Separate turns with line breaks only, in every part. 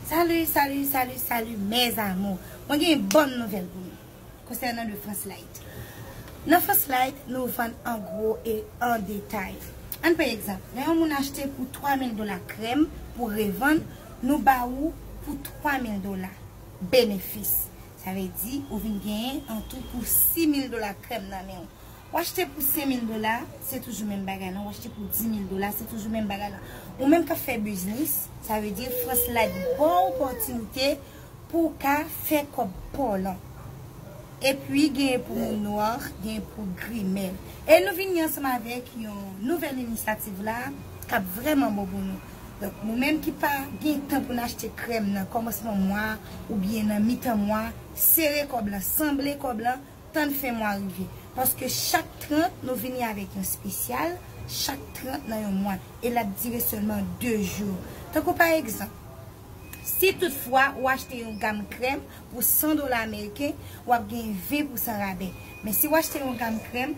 Salut salut salut salut mes amour mwen gen yon bon nouvel pou nou konsènan le France light nan France light nou vann an gro e an detay ann pran egzanp lè yon moun achte pou 3000 dola krèm pou revann nou ba ou pou 3000 dola benefis sa vle di ou vin genyen an tou pou 6000 dola krèm nan menw W achte pou 5000 dola, se toujou menm bagay lan. W achte pou 10000 dola, se toujou menm bagay lan. Ou menm k ap fè biznis, sa vle di Frans Light ba w opòtinite pou w ka fè kòb pa w lan. Epi genyen pou moun nwa, genyen pou gri. Men, e nou vini ansanm avèk yon nouvèl inisyativ la k ap vrèman bon pou nou. Donk, nou menm ki pa gen tan pou n achte krèm nan kòmansman mwa oubyen nan mitan mwa, sere kòb lan, sanble kòb lan. Tann fen mwa rive. Paske chak 30 nou vini avèk yon spesyal, chak 30 nan yon mwa. E l ap dire sèlman 2 jou. Tankou pa egzanp, si tout fwa ou achte yon gam krèm pou 100 dola ameriken, w ap gen 20 pousan rabè. Men si w achte yon gam krèm.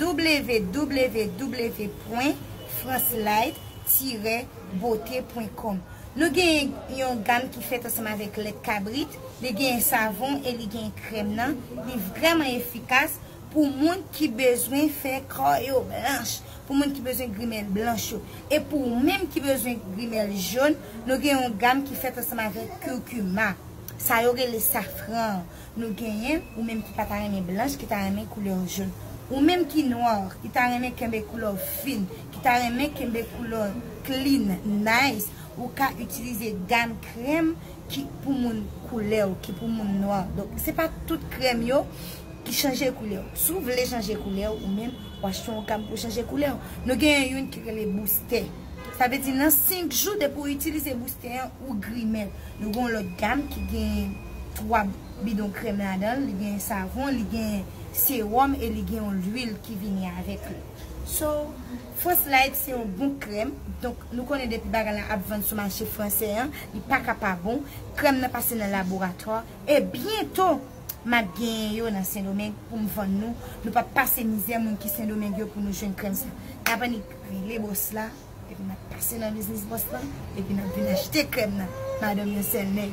www pwen francelight tirè beauté pwen com Nou genyen yon gam ki fèt ansanm avèk lèt kabrit, li genyen savon e li genyen krèm nan, li vrèman efikas pou moun ki bezwen fè kò yo blanch, pou moun ki bezwen grimèl blanch yo. E pou ou menm ki bezwen grimèl jòn, nou gen yon gam ki fèt ansanm avèk curcuma, sa yo rele safran an. Nou genyen ou menm ki pata renmen blanch ki ta renmen koulè w jaune ou menm ki noir ki ta renmen kenbe koulè w fin ki ta renmen kenbe koulè w clean nice ou ka itilize gam krèm ki pou moun koulè w ki pou moun noir donk se pa tout krèm yo ki chanje koulè w si w vle chanje koulè w ou menm w achte yon gam pou chanje koulè w nou genyen youn ki rele booster. Sa vle di nan 5 jou depi ou itilize boustè an ou grimèl. Nou gen yon lòt gam ki gen 3 bidon krèm ladan l, li gen savon, li gen sewòm e li gen yon lwil ki vini avèk li. So, Frans Light se yon bon krèm, donk nou konnen depi bagay la ap vann sou mache fransè an, li pa ka pa bon. Krèm nan pase nan laboratwa e byento m ap genyen yo nan Sendomeng pou m vann nou. Nou pap pase mizè moun ki Sendomeng yo pou nou jwenn krèm sa. N ap annik. Rele bòs la epi nap pase nan biznis bòs lan epi nap vin achte krèm nan madanm yon sèl nèg.